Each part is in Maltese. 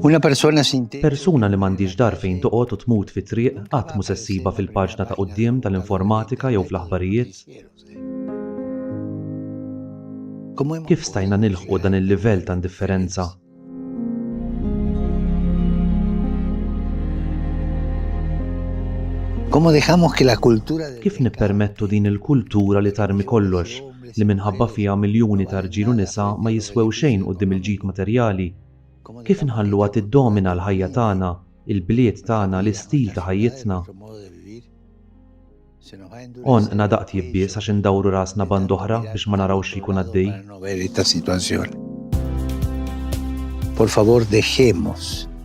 Una persona sin techo. Persuna li m'għandhiex dar fejn toqgħod u tmut fit-triq qatt mhu se ssibha fil-paġna ta' quddiem tal-informatika jew fl-aħbarijiet. Kif stajna nilħqu dan il-livell ta' indifferenza? Kif nippermettu din il-kultura li tarmi kollox? li minħabba fiha miljuni ta' rġiel u nisa ma jiswew xejn quddiem il-ġid materjali? Kif inħalluha tiddomina l-ħajja tagħna, il-bliet tagħna, l-istil ta' ħajjitna? Għonqna daqt jibbies għax indawru rasna band'oħra biex ma narawx xi jkun għaddej.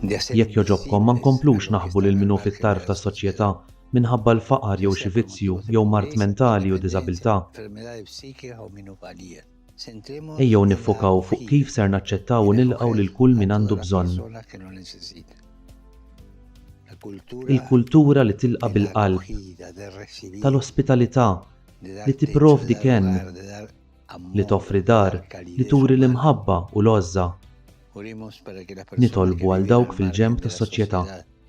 Jekk jogħġobkom ma nkomplux naħbu lil min hu fit-tarf tas-soċjetà minħabba l-faqar jew xi vizzju jew mard mentali u diżabilità. Ejjew niffokaw fuq kif ser naċċettaw u nilqgħu lil kull min għandu bżonn. Il-kultura li tilqa' bil-qalb, tal-ospitalità, li tipprovdi kenn, li toffri dar, li turi l-imħabba u l-għożża. Nitolbu għal dawk fil-ġenb tas-soċjetà.